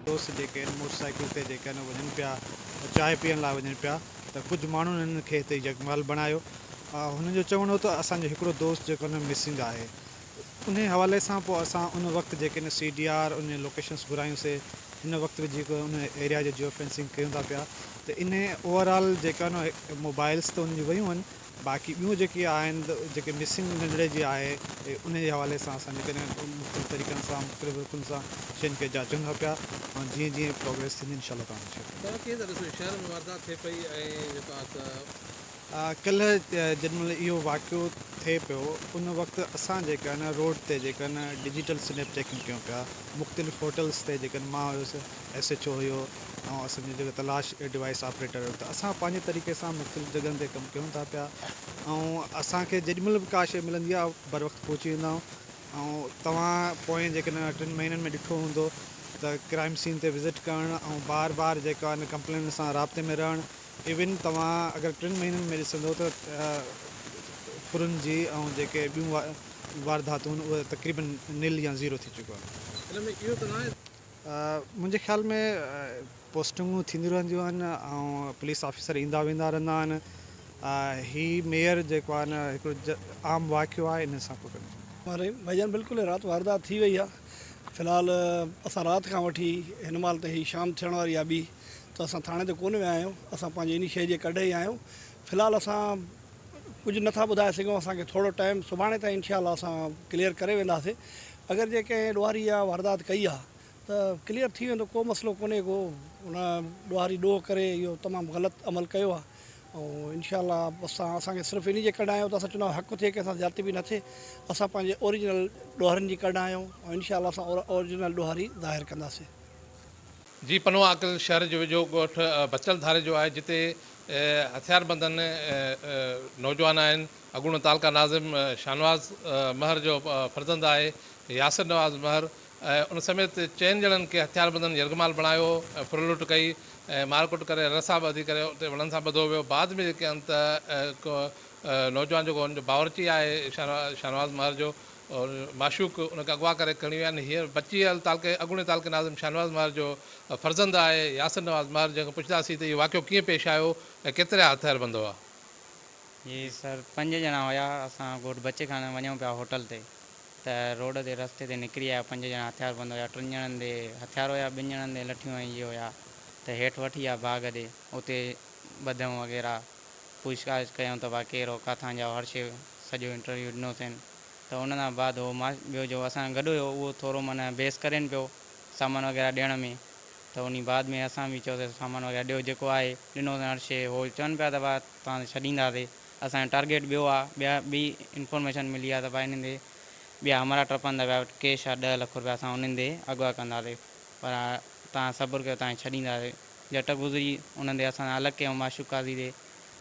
دوست جيڪي آهن موٽر سائيڪل تي جيڪي آهن وڃن پيا چاهه پيئڻ لاء وڃن پيا ته ڪجهه ماڻهن هن کي هتي يغمال بڻايو. هنن جو چوڻ هو ته اسان جو هڪڙو دوست جيڪو هن ۾ مسنگ آهي. انهي حوالي سان پوء اسان ان وقت جيڪي نه سي ڊي آر ان جون لوڪيشنس گهرايون سي هن وقت به جيڪو ان ايريا جي جيو فينسنگ ڪيون ٿا پيا ته انهي اوور آل جيڪا نه موبائلس ته ان جون ويون هن باقي ٻيون جيڪي آهن جيڪي مسنگ ننڍڙي جي آهي ان جي حوالي سان اسان جيڪڏهن مختلف طريقن سان مختلف رخن سان شين کي جاچون ٿا پيا ۽ جيئن جيئن پروگريس ٿيندي انشاء الله توهان کي ڇا توهان ڪيئن ٿا ڏسو شهر ۾ واردات ٿئي پئي ۽ جيڪو آهي سا. ڪلهه جڏهن مهل اهو واقعو ٿئي پيو ان وقت اسان جيڪا آهي نه روڊ تي جيڪا آهي نه ڊجيٽل سنيپ چيڪنگ ڪيون پيا مختلف هوٽلس تي جيڪا آهن مان هيس ايس ايڇ او هيو ۽ اسان جي جيڪي تلاش ڊوائيس آپريٽر هيو ته اسان پنهنجي طريقي سان مختلف جڳهن تي ڪم ڪيون ٿا پيا ۽ اسان کي جيڏي مهل به ڪا شيء ملندي آهي بر وقت پهچي ويندا آهيون ۽ توهان پوئين جيڪڏهن ٽن مهينن ۾ ڏٺو هوندو ته ڪرائيم سين تي وزٽ ڪرڻ ۽ بار بار جيڪو آهي ان ڪمپلينن سان رابطي ۾ رهڻ ايون توهان اگر ٽن مهينن ۾ ڏسندو ته ڦرن جي ۽ جيڪي ٻيون وارداتون اهي تقريبن نل يا زيرو ٿي چڪو آهي ان ۾ اهو ته ناهي منهنجي خيال ۾ پوسٽنگون ٿينديون رهنديون آهن ۽ پوليس آفيسر ايندا ويندا رهندا آهن هي ميئر جيڪو آهي نه هڪڙو عام واقعو آهي ان سان ڪو ڀائي جان بلڪل رات واردات ٿي وئي آهي في الحال اسان رات کان وٺي هن مال تائين هي شام ٿيڻ واري آهي ٻي ته اسان ٿاڻي تي ڪونه ويا آهيون اسان پنهنجي انهي شئي جي ڪڍي آهيون في الحال اسان ڪجهه نٿا ٻڌائي سگهون اسان کي ٿورو ٽائيم سڀاڻي تائين انشاء الله اسان ڪليئر ڪري وينداسي اگر جي ڪنهن ڏوهاري اها واردات ڪئي آهي ته ڪليئر ٿي ويندو ڪو مسئلو ڪونهي ڪو ان ڏوهاري ڏوهه ڪري اهو تمام غلط عمل ڪيو آهي ۽ انشاء الله اسان اسان کي صرف ان جي ڪرڻ آيو ته اسان چوندا حق ٿئي ڪنهن سان زيادتي به نه ٿئي اسان پنهنجي اوريجنل ڏوهارين جي ڪرڻ آيا آهيون ۽ انشاء الله اسان اوريجنل ڏوهاري ظاهر ڪنداسي. جي پنو عاقل شهر جي ويجهو ڳوٺ بچل ڌاري جو آهي جتي هٿياربندن نوجوان آهن اڳوڻو تعلقه ناظم شاهنواز مهر جو فرزند آهي ياسر نواز مهر ان سميت چئن ڄڻن کي هٿياربندن يرغمال بڻايو ڦرلٽ ڪئي ۽ مارڪٽ ڪري رسا ٻڌي ڪري اتي وڻن سان ٻڌو ويو بعد ۾ جيڪي انت نوجوان جيڪو ان جو باورچي آهي شاهنواز مهر جو معشوق ان کي اغوا ڪري کڻي ويا آهن. هيء بچي اهل تعلقي اڳوڻي تعلقي ناظم شاهنواز مهر جو فرزند آهي ياسر نواز مهر، جنهن کان پڇنداسين ته اهو واقعو ڪيئن پيش آيو ۽ ڪيتريا هٿيار بند هئا؟ جي سر پنج ڄڻا هيا اسان گهوٽ بچي کان وڃون پيا هوٽل تي ته روڊ تي رستي تي نڪري آيا پنج ڄڻا هٿيار بند هيا ٽن ڄڻن تي هٿيار هيا ٻن ڄڻن تي لٺيون ۽ اهي هيا ته هيٺ وٺي ويا باغ ڏي اتي ٻڌيون وغيره پوڇ ڳاڇ ڪيائون ته ڀا ڪير هو ڪاٿان جا هو هر شيء سڄو انٽرويو ڏنوسين ته ان کان بعد هو ماش ٻيو جو اسان گڏ هيو اهو ٿورو معنيٰ بحث ڪرين پيو سامان وغيره ڏيڻ ۾ ته انهي بعد ۾ اسان به چيوسين سامان وغيره ڏيو جيڪو آهي ڏنوسين هر شيء هو چون پيا ته ڀا توهان تي ڇڏينداسين اسان جو ٽارگيٽ ٻيو آ ٻيا ٻي انفارميشن ملي آ ته ڀا انهن تي ٻيا حملا ٽپن ته ڀا ڪيش آ ڏهه لک روپيا اسان انهن تي اغوا ڪنداسين پر توهان صبر ڪيو توهان کي ڇڏينداسين. جٽ گذري انهن تي اسان سان الڳ ڪيائون معشوق قاضي تي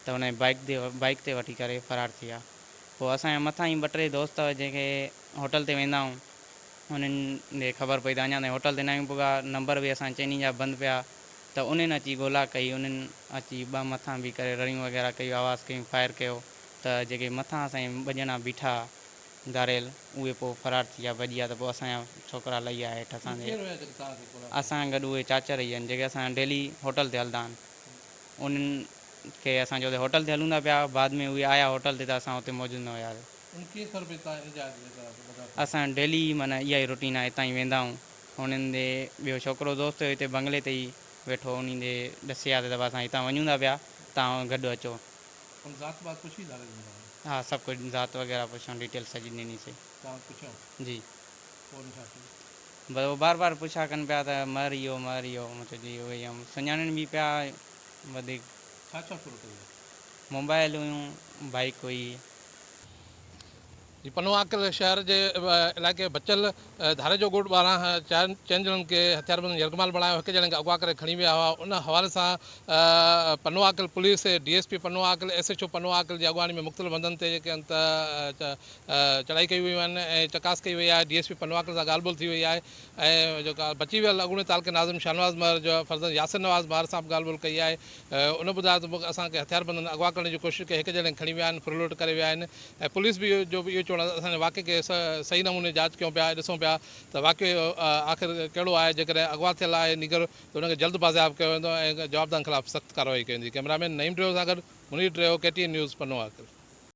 ته ان کي بائيڪ تي بائيڪ تي وٺي ڪري فرار ٿي ويا پوء اسان جا مٿان ئي ٻه ٽي دوست هئا جن کي هوٽل تي ويندا آهيون انهن جي خبر پئي ته اڃا تائين هوٽل تي ناهيون پڳا نمبر به اسان جا چئني جا بند پيا ته انهن اچي ڳولا ڪئي انهن اچي ٻه مٿان بيهي ڪري رڙيون وغيره ڪيون آواز ڪيون فائر ڪيو ته جيڪي مٿان اسان جي ٻه ڄڻا بيٺا ڌاريل اهي پوء فرار ٿي ويا ڀڄي ويا ته پوء اسان جا ڇوڪرا لهي آيا هيٺ اسان جي اسان سان گڏ اهي چاچا رهي ويا آهن جيڪي اسان سان ڊيلي هوٽل تي هلندا آهن انهن کي اسان چيو ته هوٽل تي هلون ٿا پيا بعد ۾ اهي آيا هوٽل تي ته اسان اتي موجود نه هياسين اسان جو ڊيلي معنيٰ اها ئي روٽين آهي هتان ئي ويندا آهيون انهن جي ٻيو ڇوڪرو دوست هيو هتي بنگلي تي ئي ويٺو انهن جي ڏسي آياسين ته اسان هتان وڃون ٿا پيا تان گڏ اچو ان ذات بات پڇي ڌاري ڏنو تانکي. ھا سڀ ڪجھ ذات وغيره پڇيون ڊيٽيل سڄي ڏني سي. توھان پڇيو؟ جي. پوء ان ڇا چيو؟ بس ھو بار بار پڇا ڪن پيا ته مھر اھو مھر اھو مون چيو جي اھو ئي ھو سڃاڻين به پيا وڌيڪ. ڇا ڇا ڦرو ڪيو؟ موبائل ھيون بائيڪ ھئي. جي پنو عاقل شهر جي علائقي بچل ڌاريجو ڳوٺ ٻاهران چئن ڄڻن کي هٿياربندن يرغمال بڻايو هڪ ڄڻي کي اغوا ڪري کڻي ويا هئا ان حوالي سان Pano Akil police D S P Pano Akil S H O Pano Akil جي اڳواڻي ۾ مختلف هنڌن تي جيڪي آهن ته چڙهائي ڪئي ويون آهن ۽ چڪاس ڪئي وئي آهي D S P Pano Akil سان ڳالهه ٻولهه ٿي وئي آهي ۽ جيڪا بچي ويل اڳوڻي تعلقي ناظم شاهنواز مهر جا فرزند ياسر نواز مهر سان به ڳالهه ٻولهه ڪئي آهي ان ٻڌايو ته مغ اسان کي هٿياربندن اغوا ڪرڻ جي ڪوشش ڪئي، هڪ ڄڻي کڻي ويا آهن، ڦرلٽ ڪري ويا آهن ۽ پوليس به جو به اهو چوڻ آهي ته اسان ان واقعي کي صحيح نموني جاچ ڪيون پيا ۽ ڏسون پيا ته واقعي آخر ڪهڙو آهي، جيڪڏهن اغوا ٿيل آهي نيگر ته ان کي جلد بازياب ڪيو ويندو ۽ جوابدارن خلاف سخت ڪارروائي ڪئي ويندي، ڪئميرا مين نعيم ڊريو سان گڏ منير ڊريو K T N news Pano آخر.